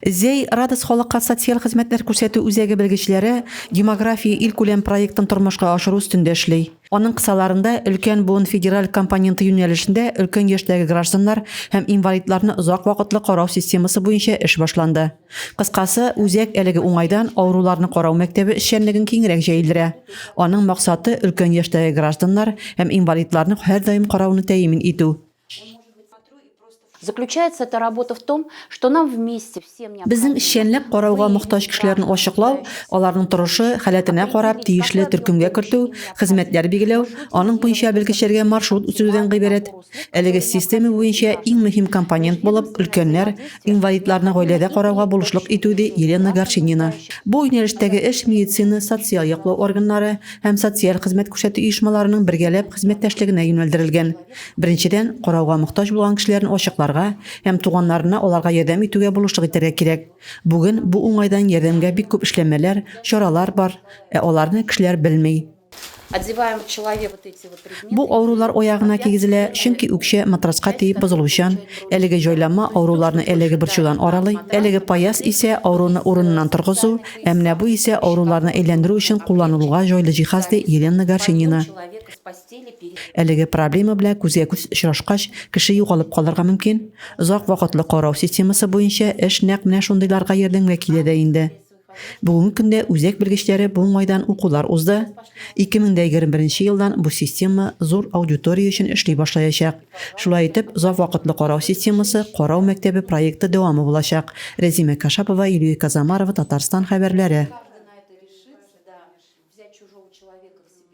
Зәй Радос халыкка социаль хезмәтләр күрсәтү үзәге белгечләре Демография илкүләм проектын тормышка ашыру өстендә эшли. Аның кысаларында өлкән буын федераль компоненты юнәлешендә өлкән яшьтәге гражданнар һәм инвалидларны озак вакытлы карау системасы буенча эш башланды. Кыскасы, үзәк әлеге уңайдан авыруларны карау мәктәбе эшчәнлеген киңрәк җәелдерә. Аның максаты, өлкән яшьтәге гражданнар һәм инвалидларны һәрдаим карауны тәэмин итү. Заключается эта работа в том, что нам вместе всем необходимо... Безнең эшчәнлек карауга мохтаҗ кешеләрне ачыклау, аларның торышы, халәтенә карап, тиешле төркемгә кертү, хезмәтләр билгеләү, аның буенча белгечләргә маршрут үстерүдән гыйбарәт. Әлеге система буенча иң мөһим компонент булып, өлкәннәр, инвалидларны гаиләдә карауга булышлык итү, ди Елена Горчинина. Бу юнәлештәге эш медицина, социаль яклау органнары һәм социаль хезмәт күрсәтү оешмаларының бергәләп хезмәттәшлегенә юнәлдерелгән. Беренчедән, карауга мохтаҗ булган кешеләрне ачыкларга һәм туганнарына аларга ярдәм итүгә булышлык итәргә кирәк. Бүген бу уңайдан ярдәмгә бик күп эшләнмәләр, чаралар бар, ә аларны кешеләр белми. Бу авырулар аягына кигезелә, чөнки үкчә матраска тиеп бозылучан, әлеге җайланма авыруларны әлеге борчудан аралый, әлеге паяз исә авыруны урыныннан торгызу, ә менә бу исә авыруларны әйләндерү өчен кулланылуга җайлы җиһаз, ди Елена Горшенина. Әлеге проблема белән күзгә-күз очрашкач, кеше югалып калырга мөмкин. Озак вакытлы карау системасы буенча эш нәкъ менә шундыйларга ярдәмгә килә дә инде. Бүгенге көндә үзәк белгечләре бу уңайдан укулар узды. 2021 елдан бу система зур аудитория өчен эшли башлаячак. Шулай итеп, озак вакытлы карау системасы карау мәктәбе проекты дәвамы булачак. Рәзимә Кашапова, Юлия Казамарова, Татарстан хәбәрләре.